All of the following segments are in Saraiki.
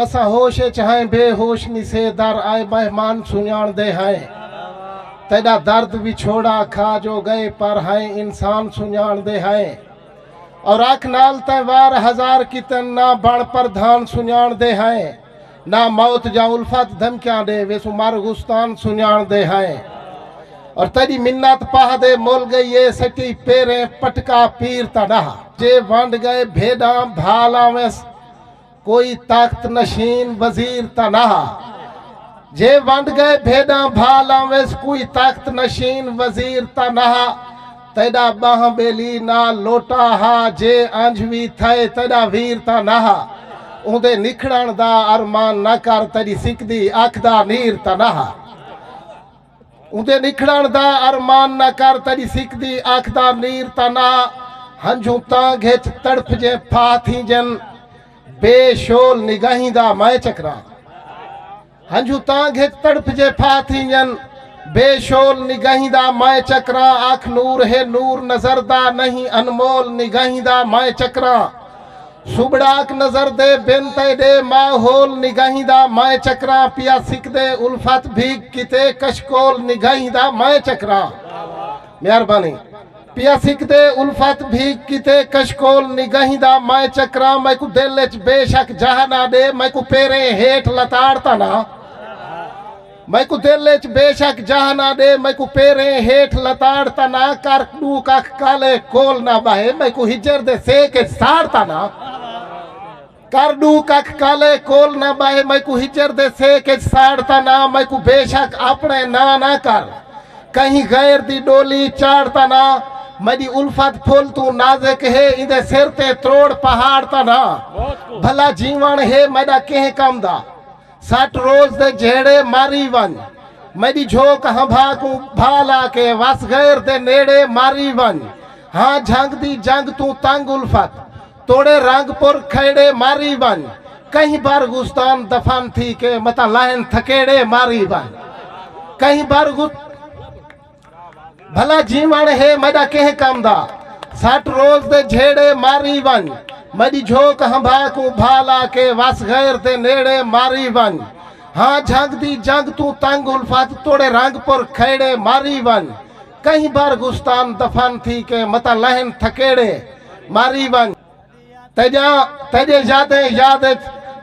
اساں ہوش اچ ہائیں بے ہوش نی سے در آئے مہمان سنجاݨ دے ہائیں تیݙا درد وچھوڑا کھا جو ڳئے پر ہائیں انسان سنجاݨ دے ہائیں اور اکھ نال تیں وار ہزار کیتن نہ بݨ پردھان سنجاݨ دے ہائیں نہ موت جا الفت دھمکیاں ݙے ویسوں مر غستان سنجاݨ دے ہائیں اور تیݙی منت پاہ دے مل ڳئی اے سٹی پیریں پٹکا پیر تاں ݙاہ جے ونڈ ڳئے بھیݙاں بھال آویس۔ کوئی تخت نشین وزیر تاں نہ ہا جے ونڈ گئے بھیڈاں بھا لاویس کوئی تخت نشین وزیر تاں نہ ہا تیڈا بہہ بیلی نال لوٹا ہا جے انج وی تھئے تیڈا ویر تاں نہ ہا اوندے نکھڑن دا ارمان نہ کر تیڈی سکدی اکھ دا نیر تاں نہ ہا۔ اوندے نکھڑن دا ارمان نہ کر تیڈی سکدی اکھ دا نیر تاں نہ ہنجھوں تاں گھچ تڑپ جیں پھاہ تھینجن بے شول نگاہیں دا میں چکراں ہنجھوں تاں گھچ تڑپ جیں پھاہ تھینجن بے شول نگاہیں دا میں چکراں اکھ نور ہے نور نظر دا نہیں انمول نگاہیں دا میں چکراں سوبڑاک نظر دے بن تئے ڈے ماحول نگاہیں دا مائیں چکراں پیا سکدے الفت بھیگ کیتے کشکول نگاہیں دا مائیں چکراں مہربانی پیا سکدے الفت بھیگ کیتے کشکول نگاہیں دا مائیں چکراں میکو دل اچ بے شک جہاں نہ ڈے میکو پیریں ہیٹھ لتاڑ تاں نہ میکوں دل اچ بے شک جاہ نہ ݙے میکوں پیریں ہیٹھ لتاڑ تاں نہ کر ݙو ککھ کالے کول نہ ٻہہ میکوں ہجر دے سیک اچ ساڑ تاں نہ کر ݙو ککھ کالے کول نہ ٻہہ میکوں ہجر دے سیک اچ ساڑ تاں نہ میکوں بے شک آپݨے ناں نہ کر کہیں غیر دی ݙولی چاڑ تاں نہ میݙی الفت پھل توں نازک ہے ایندے سر تے تروڑ پہاڑ تاں نہ بھلا جیوݨ ہے میݙا کہیں کم دا سٹ روز دے جھیڑے ماری ونڄ۔ میݙی جھوک ہنبھا کوں بھا لا کے وس غیر دے نیڑے ماری ونڄ۔ ہاں جھنگ دی جنگ توں تنگ الفت توڑے رنگ پر کھیڑے ماری ونڄ۔ کہیں بر غصتان دفن تھی کے متاں لہن تھکیڑے ماری ونڄ۔ کہیں بر غصتان دفن تھی کے متاں لہن تھکیڑے ماری ونڄ۔ بھلا جیوݨ ہے میݙا کہیں کم دا سٹ روز دے جھیڑے ماری ونڄ میݙی جھوک ہنبھا کوں بھا لا کے وس غیر دے نیڑے ماری ونڄ ہاں جھنگ دی جنگ توں تنگ الفت توڑے رنگ پر کھیڑے ماری ونڄ کہیں بر گستان دفن تھی کے متاں لہن تھکیڑے ماری ونڄ۔ تیݙے یادیں یاد اچ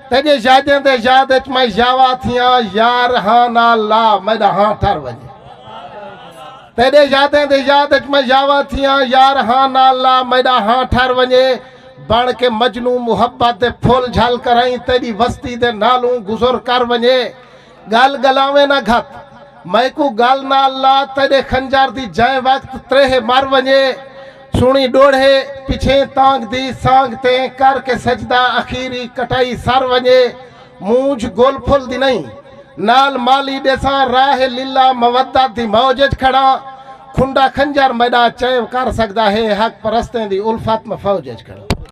تیݙے یادیں دے یاد اچ میں یاوا تھیاں یار ہاں نال لا میݙا ہاں ٹر ونجے تیݙے یادیں دے یاد اچ میں یاوا تھیاں یار ہاں نال لا میݙا ہاں ٹر ونجے بن کے مجنوں محبت دے پھل جھل کرائیں تیݙی وستی دے نالوں گزر کر ونجے گل گلاویں نہ گھت۔ میکوں گل نال لا تیݙے خنجر دی جئیں وقت تریہہ مر ونڄے سݨی ݙوڑھے پچھیں تانگھ دی سانگھ تیں کر کے سجدہ اخیری کٹائی سر ونڄے مونجھ گل پھل دی نئیں نال مالی ݙیساں راہ للہ مودت دی موج اچ کھڑاں کھنڈا خنجر میݙا چیو کر سڳدا ہے حق پرستیں دی الفت میں فوج اچ کھڑاں۔